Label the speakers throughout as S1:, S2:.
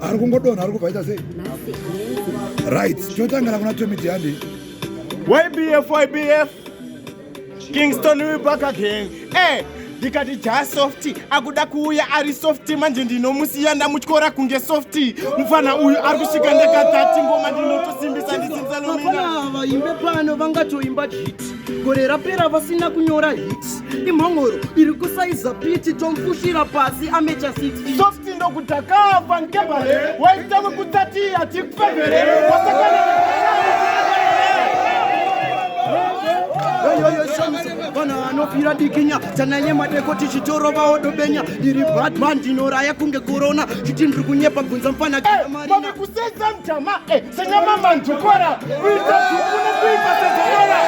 S1: ari kungodonha ari kubvaita sei right totangana kuna tomiti yandi ybf ybf
S2: kingston we back again hey. Eh, ndikati jaa softi akuda kuuya ari softi manje ndinomusiya ndamutyora kunge softi mufana uyu ari kusvika ndakadhati ngoma ndinotosimbisa ndisimbisa lomina vaimbe
S3: pano vangatoimba jiti gore rapera vasina kunyora hit imhongoro iri kusaiza piti tomfushira pasi amecha city soft ndokutakava
S2: nkebare waita wekutati hatikufevere wasakana
S3: vanhu vanofira dikinya tanaye madeko tichitoro vaodobenya ndiri batman ndinoraya kunge korona chiti ndiri kunyepa bvunza mfana eh, mari kuseza
S2: mjama eh, Senyamama
S3: ndukora kuita zvikuna kuita sezanyora.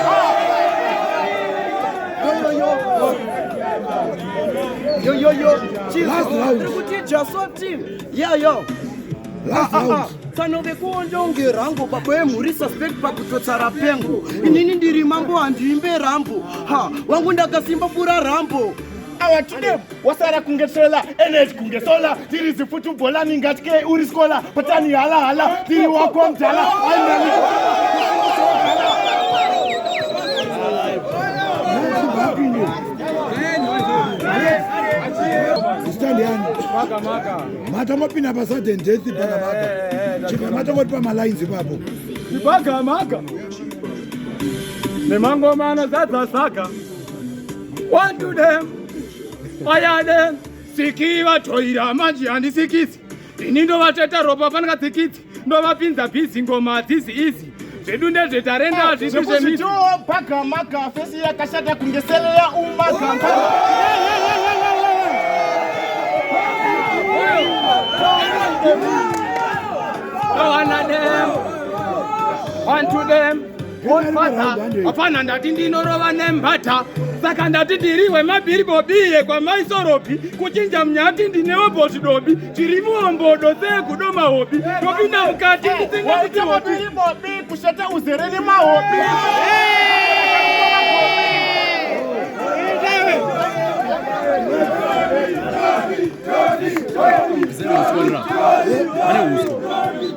S3: Yo yo yo, Jesus, just one team. Yeah yo. Last ah, ah, round. Ah. fanove kuonda unge rango baba yemhuri suspect pakutotsa rapengo inini ndiri mambo handiimbe rambo ha wangu ndakasimba pura rambo Our today
S2: wasara kunge sola energy kunge sola tiri zifutu bhola ningatye uri skola patani hala hala tiri wako mdala
S1: ainani mata mapinda pa sudden death pakamaka chibva mata moti pamalines ipapo ipagamaka
S2: nemangoma anozadza saka One to them, fire them, siki vatoira manje handisikisi ini ndovateta ropa fanaka tsikitsi ndovapinza bhizi ngoma hadzizi izi zvedu
S4: ndezvetarenda hazvisi ah, zvemizvitoo
S2: bhagamaka fesi yakashata kunge seleya umagamba Go on,
S4: them. One to them. hapana ndati ndinorova nembata saka ndati ndiri wemabhiri bobiye kwamaisoropi kuchinja mnyati ndinewo boti dobi tiri muombodo seegudo mahobi topinda mukati ndisingakuti
S2: kushata uzere nemahobi Zero, zero, zero.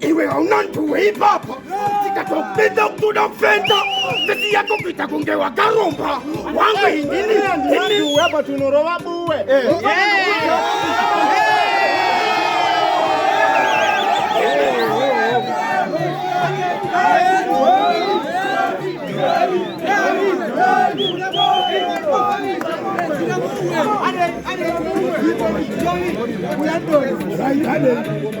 S2: iwe hauna nduwe ipapa tikatokupedza kutoda kufenda sisi yako kuita kunge wakaromba wangu inini inini apa tunorova buwe eh. Right,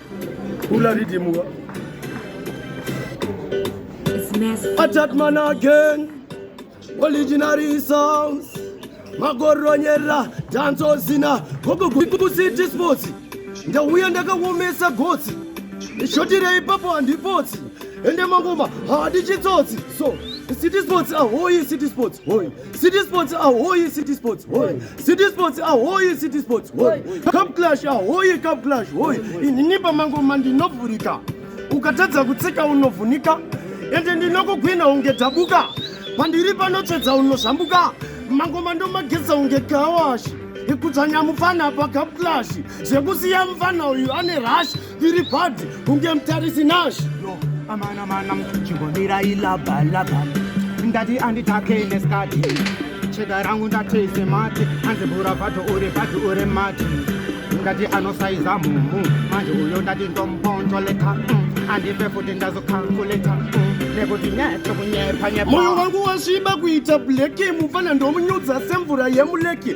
S5: Kula rhythm wa.
S3: Attack man again. Originary sounds. Magoronyera danzo zina. Gogo kukusiti sports. Ndauya ndakawomesa gotsi. Ndishotirei ipapo handipotsi. Ende mangoma hadi chitsotsi. So, city sports ahoyi city sports. Hoyi. City Sports ahoye City Sports hoye City Sports ahoye City Sports hoye Cup Clash ahoye Cup Clash hoye inini pamango mandinovhurika ukatadza kutsika unovhunika ende ndinokugwina unge dhabuka pandiri panotsvedza unozvambuka mangoma ndomageza unge gawashi ikudzanya mufana pa Cup Clash zvekusiya mufana uyu ane rashi Tiri padi kunge mutarisi Nash. Yo, amana mana chingomira ilaba laba. Ndati anditake neskati. Chega rangu ndatese mati. Anzi bura vato uri vato uri mati. Ndati anosaiza mumu. Manje uyo ndati ndomponjoleta. Mm. Andipe futi ndazokalkuleta. Mm. moyo wangu wasviba kuita bleki mufana ndomunyudza semvura yemuleki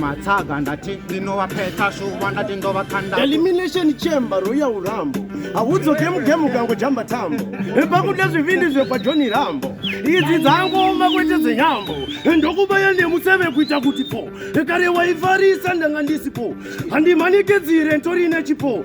S3: matsaga ndati ndinovapeta shuva ndati ndovakanda elimination chamber roya urambo haudzoke mugemu ukango jamba tambo pakuda zvivindi zvekwajoni rambo idzi dzangooma kwete dzenyambo ndokubaya nemuseve kuita kuti po kare waifarisa ndanga ndisipo handimanikidzire ntorine chipo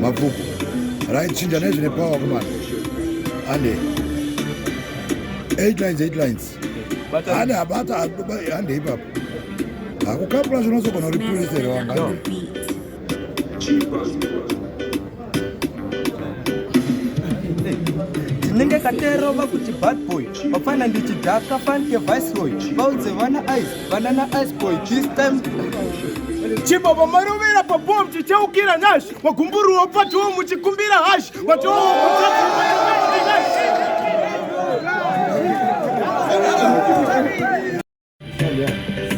S1: mabvuku raichinja nezvine power kumana ande 8 lines 8 lines ande abata ande ipapo akukapula zvinozogona uri purisere wanga ndinenge
S4: katerova kuti bad boy vapfana ndichidhaka fanike viceroy vaudze vana ice Banana ice boy this time.
S2: Chipo pamarovera pabom chichaukira nash magumburu wapatiwo muchikumbira hash watiwo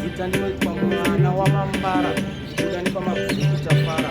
S4: Zita ndinoitwa mwana wamambara, kuda ndipamabviri kutafara.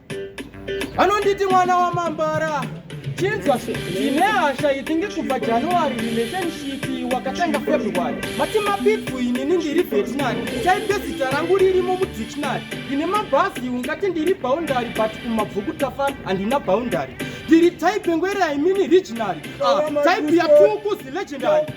S4: anonditi mwana wamambara chinzwa ndine hasha itinge kubva january relationship wakatanga february mati mabitwu inini ndiri veterinary chaipe zita rangu ririmo mudictionary ndine mabhazi ungati ndiri boundary but kumabvuku tafa handina boundary ndiri type ngwera imini regionary ah, type yatukuzi legendary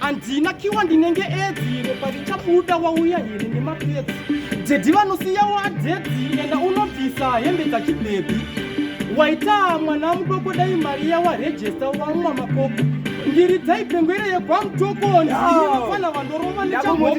S4: handina kiwa ndinenge edzire parichabuda wauya here nemapedzi dzedhi vanosiya wadedhi enda unobvisa hembe dzachibhebhi waita mwana mudoko dai mari yawarejesta wamwa makoko ndiri dzaipengwere yegwamutokoni ndinofana vandorova nechamoko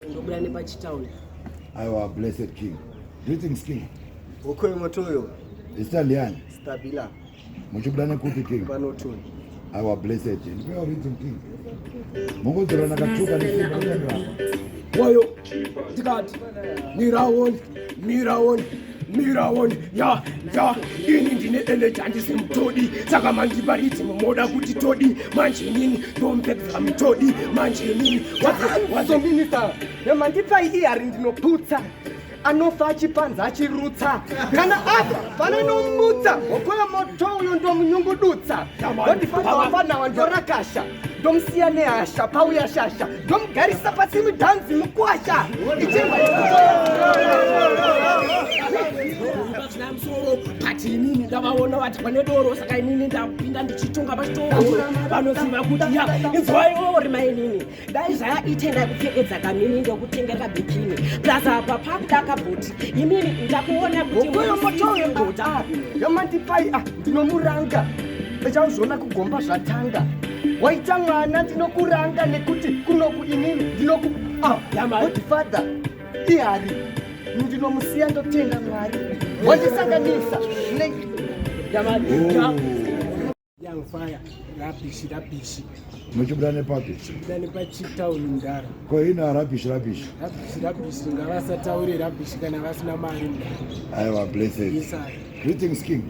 S3: Ndobuda nepachitown. Aiwa
S1: blessed king. Greetings king. Ukoyo motoyo.
S3: Zita ndiani?
S1: Stabila.
S3: Muchibuda
S1: nekupi king? Panoton.
S3: Aiwa blessed.
S1: Ndipewa rhythm king. Mungodzorana katuka nesimba. Wayo.
S3: Tikati. Nirawo. miraoni miraoni ya ya ini ndine eleji handisi mutodi saka mandibaridzi mumoda kuti todi manje inini ndompedza mutodi manje inini wazominisa yamandipai ihari ndinoputsa anofa achipanza achirutsa kana apa fana nomutsa hoko yomoto uyo ndomunyungudutsa ndondifanira wafanawa ndorakasha ndomusiya nehasha pauya shasha ndomugarisa pasi mudhanzi mukwasha musoro but inini ndavaona vati pane doro saka inini ndapinda ndichitonga pachitoro vanoziva kuti ya inzwaiwo rima inini dai zvaaite ndakupfekedza kamini ndokutengeka bikini plus apa pakuda kabhoti inini ndakuona kuti moyo motoyo ndoda yamandipai ah, ndinomuranga Chauzviona kugomba zvatanga waita mwana ndinokuranga nekuti kunoku inini ndinoku ah, godfather ihari ndinomusiya ndotenda mwari wandisanganisa muchibuda
S1: nepapi chibuda nepachitown
S3: mdara ko ina rabish
S1: rabish rabish
S3: rabish ngavasataure rabish kana vasina mari mdara aiwa blessed yes,
S1: greetings
S3: king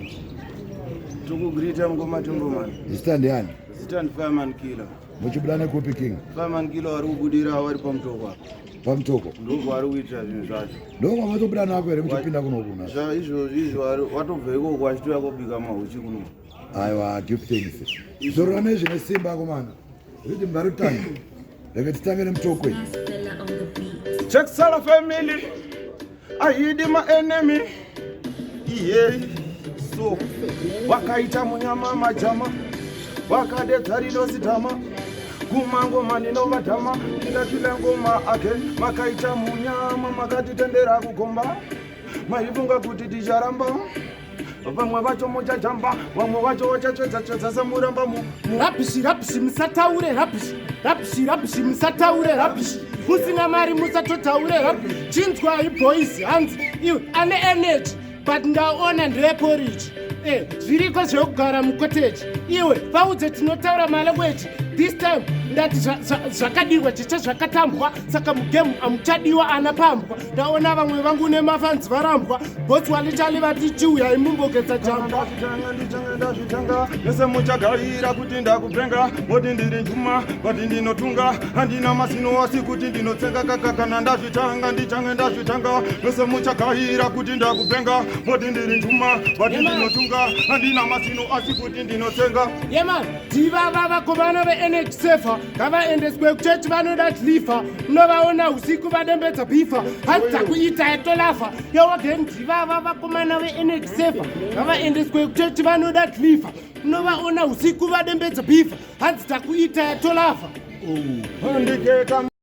S2: Tukugreeta
S1: mukoma Tumboman. Zita ndiani? Zita ndi
S2: Fireman Killer.
S1: Muchibuda nekupi King? Fireman Killer wari
S2: kubudira wari pamutoko apa. Pamutoko?
S1: Ndoko wari kuitira
S2: zvinhu zvacho. Ndoko watobuda nako
S1: here muchipinda kuno kuna? Zva izvo izvo wari
S2: watobva ikoko achitouya kobika mahuchi kuno. Aiwa, give
S1: thanks. Zorora nezvine simba komana. Rhythm ngarutanga. Rega titange nemutoko iyi.
S6: Check Sala family.
S2: I hid my enemy. Yeah. So, wakaita munyama majama. Wakadedza rido sidhama. Kuma ngoma ndinova dhama. Ndakila ngoma again. Makaita munyama makatitendera kugomba. Maifunga kuti ticharamba. vamwe vacho muchajamba vamwe vacho vachatsvedzatsvedza semuramba murabhishi rabhishi
S3: musataure rabhishi rabhishi rabhishi musataure rabhishi musina mari musatotaure rabhishi chinzwai boys hanzi iwe ane energy but ndaona ndeeporiji e eh, zviriko zvekugara mukoteji iwe vaudze tinotaura malangueji this time ndati zvakadiwa chicha zvakatambwa saka mugemu amuchadiwa ana pambwa ndaona vamwe vangu nemafanzi varambwa botsi walitali vati chiuyai mumbogeza jamba ndazvitanga
S2: mese muchagarira kuti ndakupenga moti ndiri njuma vati ndinotunga handina masino asi kuti ndinotsenga kaka kana ndazvitanga ndichange ndazvitanga mese muchagarira kuti ndakupenga moti ndiri njuma vati ndinotunga handina masino asi kuti ndinotsenga yeah, Diva
S3: vava kuvana veenergy safer ngavaendeswe kuchechi vanoda dlifa unovaona usiku vadembedza bifa hanzi dzakuita yatolafa yowagen diva vava kumana veenergy safer ngavaendeswe kuchechi vanoda dlifa unovaona usiku vadembedza bifa hanzi dzakuita yatolafa
S2: oh.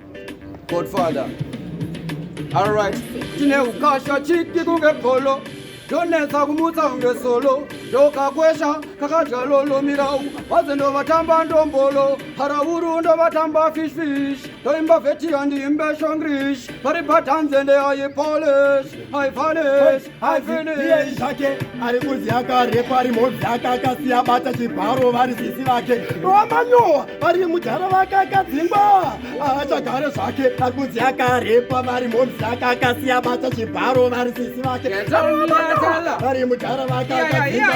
S4: Godfather. All right. Tine ukasha chiki kunge polo. Donetsa kumutsa kunge solo. Ndokakwesha kakadya lolo mirau. Vaze ndovatamba ndombolo. Haravuru ndovatamba fish fish. Ndoimba veti yandiimbe shongrish. Pari patanze ndeyayi polish. I vanish. hanzi iyei zvake
S3: ari kunzi akarepa ari mhodzi ake akasiya bata chibharo vari sisi vake vamanyowa vari mudhara vake akadzingwa achagare zvake ari kunzi akarepa vari mhodzi ake akasiya bata chibharo vari sisi vake vari mudhara vake akadzingwa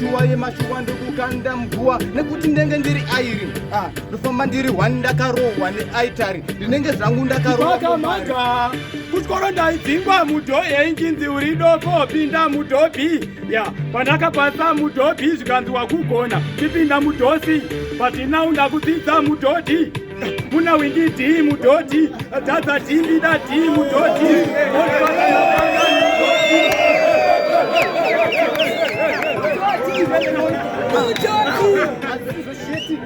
S4: Shuwa yemashuwa ndokukanda mguwa nekuti ndenge ndiri airi ah, ndofamba ndiri hwani ndakarohwa neaitari ndinenge zvangu ndakarohwakamaka
S2: kuchikoro ndaidzingwa mudhohe injinzi uri doko pinda mudhobhi ya pandakapasa mudhobhi zvikanziwa kugona ndipinda mudhosi but now ndakudzidza mudhodhi Muna windi dhii mudhodhi, dhadha dhii mbida dhii mudhodhi.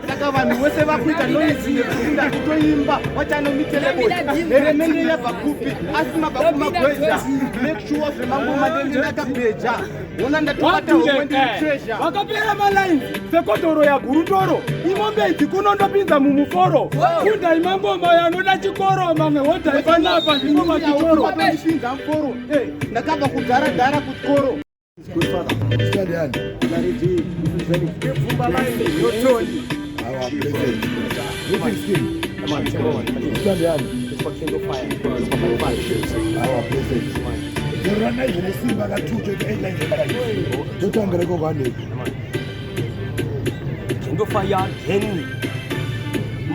S4: saka vanhu vose vakuita noise yekukunda kutoimba wachanomiteleeremenye yabva kupi asi mabva kumagweza make sure zvemangoma nemidakabeja vakapera malaini
S2: sekodhoro yagurutoro imombe idzi kuno ndopinza mumuforo kundai mangoma yanoda chikoro mamwe hodai panapa ndimo machikoro
S4: ndakabva kudhara dhara
S1: kuchikoro Our blessed. Zorana izvo nesimba katucho ita ita ita ita totambira iko kwaneko
S3: ndofaya henry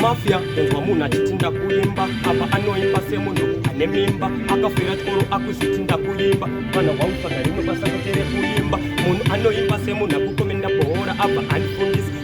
S3: mafia kunzwa munhu achiti ndakuimba apa anoimba semunhu ane mimba akafira chikoro akuzviti ndakuimba vanhu vautsvaga rimwe basa kutere kuimba munhu anoimba semunhu akukomenda bhoora abva andifundisa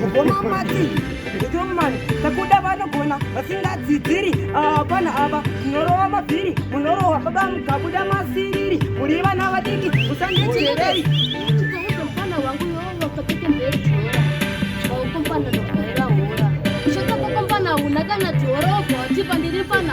S7: Mukoma Mati, Strongman, takuda vanogona vasingadzidziri hapana ah, ava munorova mabhiri munorohwa baba mukabuda masiriri muri vana vadiki musandijerei
S8: Unakana tiorogo tipa ndiri pana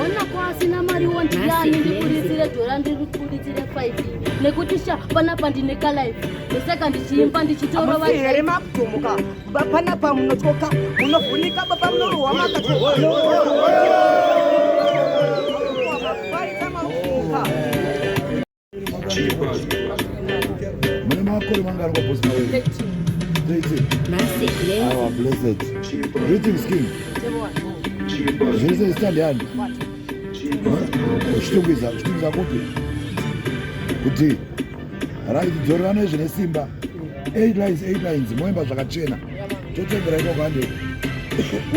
S8: Ona kwasina mari wondiyani ndikuritsire dhora ndirikuritire 5 nekuti sha panapa ndine kalife ndosaka ndichiimba ndichitorova here makutumuka
S7: baba panapa munotyoka munovhunika baba munorohwa makatyoka
S1: mune makore mangari kwabosi mawe zvese zita ndiani uchitungwiza uchitungwiza kupi kuti right dzorerana izvi nesimba eight lines eight lines moimba zvakachena totendera ikoko hande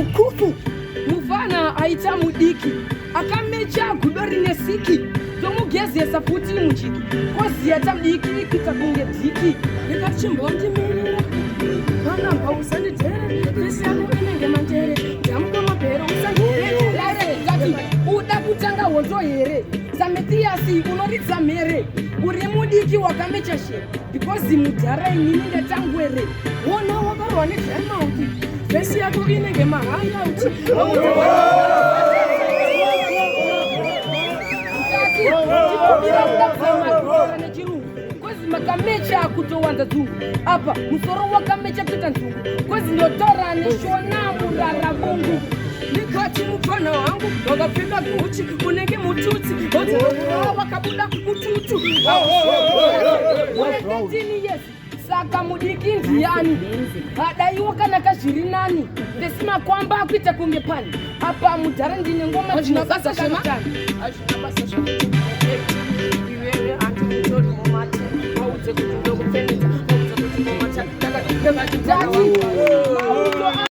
S1: ukufu
S7: mufana aita mudiki akamecha gudo rine siki tomugezesa futi muchiki koziya tadiki kuita kunge dhiki ndikachimbotimirira panamba usandidhere vese yako inenge mandere damuka mabhere usandireeati uda kutanga hoto here sametiyasi unoridza mhere uri mudiki wakamecha shere because mudhara inini ndatangwere Wona wakarohwa nedramauti vhesi yako inenge mahangauti makamecha akutowanza dzungu apa musoro wakamecha kutoita nzungu kozi ndotaura neshona murara mungu ndikati mupfanha wangu wakapfeka guchi unenge mututsi odzaa wakabuda mututu waendetini yesi saka mudiki ndiyani adaiwo kana kazviri nani ndesi makwamba akuita kunge pani apa mudhara ndine ngoma dzinobasa zvema Thank you.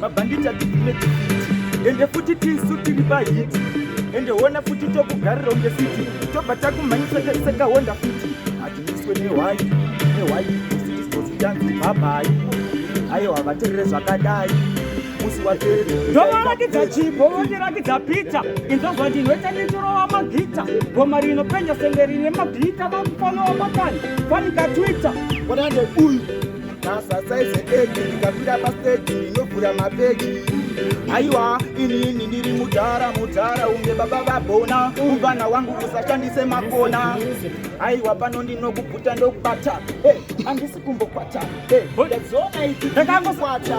S9: mabhanditi atibvime tifiti ende futi tisu tiri pahiti ende hona futi tokugarira unge fiti tobva takumhanyisa tarisekahonda futi hatimiswe nehwai nehwai usitisozitanzi bhabhai aiwa vaterere zvakadai musi waterere ndovarakidza chipo vondirakidza pita inzozwa ndinoita nditorova magita goma rinopenya senge rine mabhita vakufanowa makani fanika twitter kodande uyu
S2: masasaize eki ndikapinda pasteji ndinovhura mabeki aiwa inini ndiri mudhara mudhara unge baba vabona umvana wangu usashandise makona aiwa pano ndinokubvuta ndokubata andisi kumbokwata ndadziona idzi ndakangokwata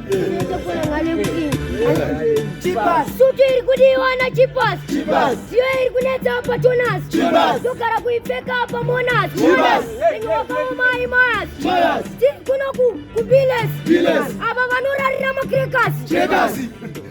S8: sutu iri kudiwana chipas ziyo iri kunetsa apa tonas togara kuipfeka apa monas enyokaomai mayas tiri kuno kubiles ava vanorarira makrekasi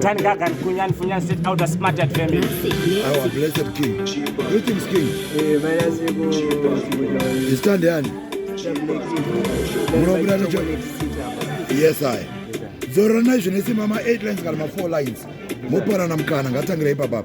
S9: Tani kaka kunyan funyan sit out a smart at family. Our blessed
S1: king. Greetings king. Eh, baya siku. Stand yani. Murabura nacho. Yes I. Zoro na zvine simama 8 lines kana ma 4 lines. Mopara na mkana ngatangire ipapa.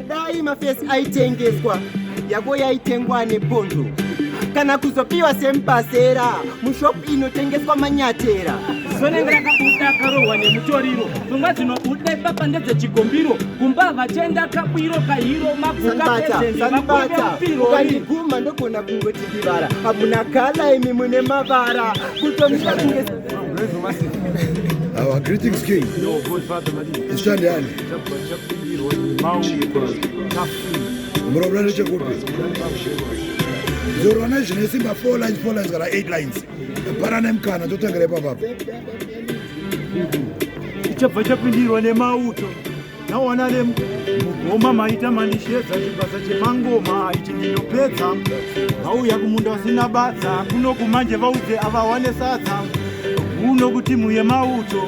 S3: dai mafesi aitengeswa yako yaitengwa nepondo kana kuzopiwa semupasera mushopu inotengeswa manyatera zonenge rakabuda
S9: akarohwa nemutoriro pfungwa dzinobuda ipapa ndedzechigombiro kumba havachaenda kabwiro kahiro mabvukaeeakandiguma
S3: ndogona kungoti ndivara hamuna kala imi mune mavara kutomira kunge
S1: Our greetings, King. Your good father, Madi. It's Shandiani. murombo nechekupi zorwa nezvine simba four lines four lines kana eight lines para nemukana totangira ipapapa
S10: chichabva chapindirwa nemauto nawana nemugoma maita mandishedza chibasa chemangoma ichi ndinopedza vauya kumunda vasina badza kuno kumanje vaudze avawane sadza kuno kutimu yemauto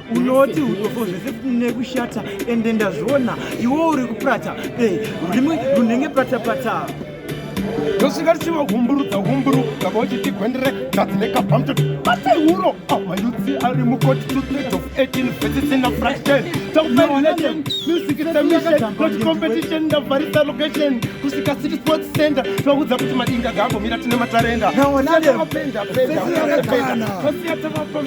S10: unoti udofo zvese nekushata ende ndazviona iwo uri kupata eh, rurimi runenge patapata
S2: tosvika tichivagumburudza gumburu kava uchitigwendere gadzi nekabamto batai uro amayudzi ah, ari mukoti to third of 18 vesis in a fraction taufailation music is a mission not competition ndavharisa location kusvika city sports center tvaudza kuti madinga gaambomira tine matarenda naonadependa penda penda pasiya tavapa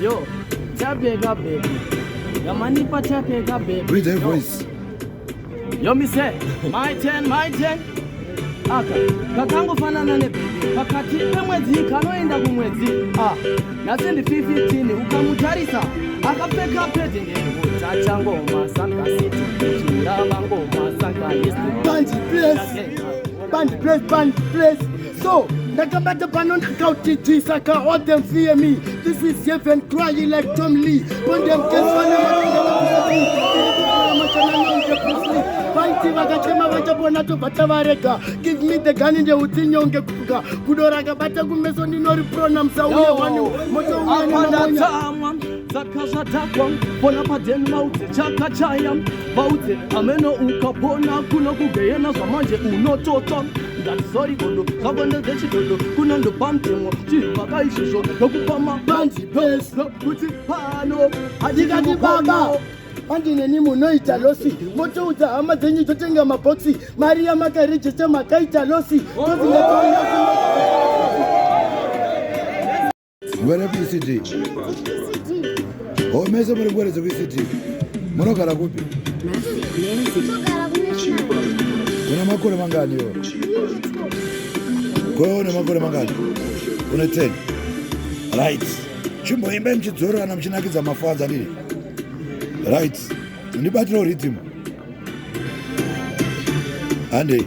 S1: Yo,
S3: chapeka baby. Yamanipa chapeka baby. Read that voice.
S1: Yo,
S3: me say, my turn, my turn. aka kakangofanana nebhebhi pakati pemwedzi kanoenda kumwedzi a nhasi ndi 15 ukamutarisa akapfeka pedi ndeutachangoma sankasiti chirava ngoma sankaisbandi ples bandi ples bandi ples So, ndakabata pano ndakautijisa ka all them fear me This is heaven crying like Tom Lee Bondem keswana vaiti vakachema vachapona tobva tavarega give me the gun ndeutsinyonge kuga gudo rakabata kumeso ndinori prona musauye wani moto uyaninamonya
S11: saka zvatakwa pona padeni vaudze chakachaya vaudze ameno ukapona kuno kugeyena zvamanje unototswa ndatisori gondo zvagondo dzechidodo kunondopa mutemo chinhu paka izvozvo ndokupa mabanzi pes kuti pano handikati
S3: baba manje neni munoita losi motoudza hama dzenyu totenga mabhoksi mari yamakarejesta makaita losi tozinga
S1: Mvere PCD. Oh, mese muri ngwere dzekuCD. Munogara kupi? Una makore mangani yo? Ko una makore mangani? Una 10. Right. Chimboimba mchidzorana mchinakidza mafaza ndiri. Right. Ndibatira rhythm. Andei.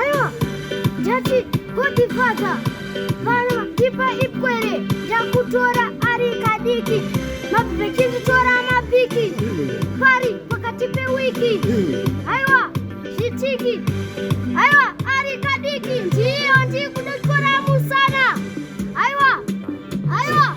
S8: Aiwa, ndati goti fadza vana ipa ipwere ndakutora ari kadiki mabvechinditora mabiki pari pakati pewiki aiwa zvitiki aiwa ari kadiki ndiyo ndikuda kutora musana aiwa aiwa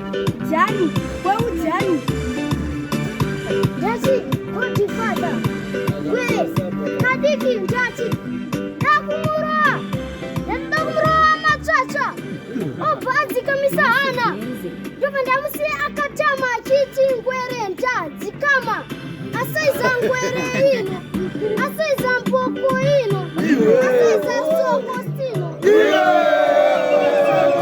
S8: Jani, kweu Jani. Jasi, koti fada. Kwe, kadiki njati. Dakumura. Dakumura matsatsa. Obhanzi kamisa hana. Ndovandamusi akatama achiti ngwere njadzi kama. Asaiza ngwere ino. Asaiza mboko ino. Asaiza soko stino. Yeah!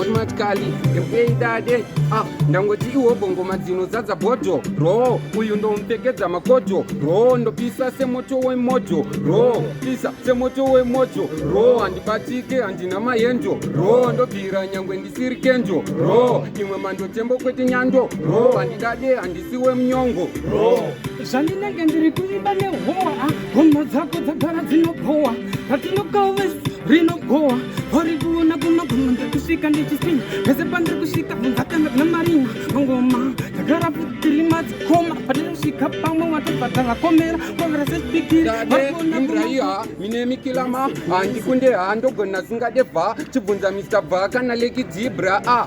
S4: otimatikali ndekuei dade ah, ndangoti iwo bongoma dzinozadza bhodho roo uyu ndomupfekedza makodho roo ndopisa semoto wemoto roo pisa semoto wemoto roo handibatike handina mayenjo roo ndobvira nyangwe ndisiri kenjo roo imwe mandotembo kwete nyando roo handidade handi siwe mnyongo zvandinenge ndiri
S7: kuimba nehowa homa dzako dzagara dzinobhowa ratinokaves rinobhowa vari kuona kunoguma ndikusvika ndichisinya pese pandiri kusvika vunzakana kuna marina mangoma ndagara tiri madzikoma patinosvika pamwe watobvata vakomera kovera sechipikiri imbraiha
S4: mine mikilama handikunde handogona zingade bva chibvunza mr bva kana leki dzibra a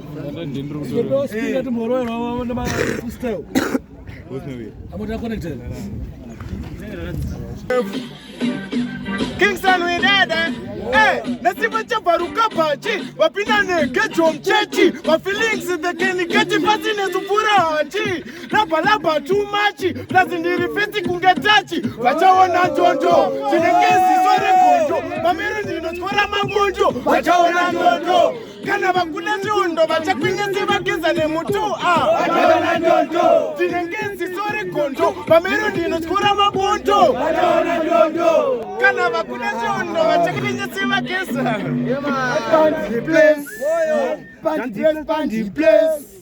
S3: Kingston
S2: we dada eh nasima chabaruka pachi vapinda negejo mchechi vafeelings the keniketi pasi nezupura hachi labalaba too much plus ndiri fiti kunge tachi vachaona ndondo tinenge ziso regondo mamiri ndinotyora mamondo vachaona ndondo kana vakuda chiondo vachakwinyese vageza nemuto ah. tinenge nziso regondo pamerodi inotyora mabondo kana vakuda chiondo vachakwinyese vageza Pandi
S3: place, pandi place, pandi place.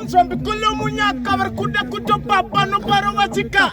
S2: unzvambi kule munyaka vari kuda kutopa pano paro vachika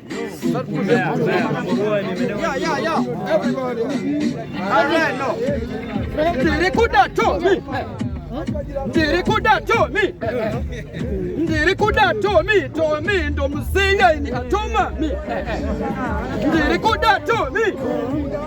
S2: Ndirikuda Tommy. Ndirikuda Tommy. Ndirikuda Tommy. Tommy ndo muzinga ini atoma mi. Ndirikuda Tommy.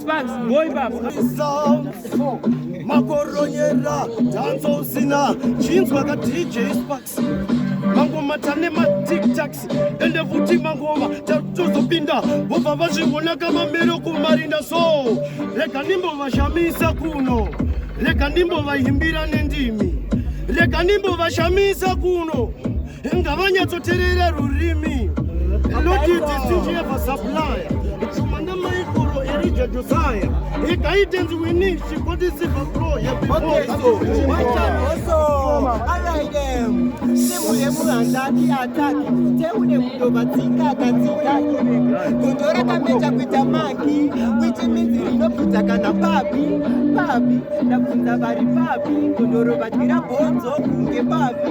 S3: Sparks, boy baba. Makoronyera, danza usina, chinzwa ka DJ Sparks. Mangoma tane ma tic tacs, ende futi mangoma tatozopinda, vobva vazviona kama mero kumarinda so. Rega ndimbo vashamisa kuno, rega ndimbo vahimbira nendimi, rega ndimbo vashamisa kuno. ngavanyatsoterera rurimi lotidistinjevasapulaya chuma namaikoro erija josaya ikaitenzi wini chikodisiva pro
S12: yebivooaaidemulemuhandaki ataki teune mudovatsika akatsika gondo rakameja kuita maki kuiti minzi rinobvudza kana papi papi ndabvunza vari papi gondoro vadira bhonzo kunge papi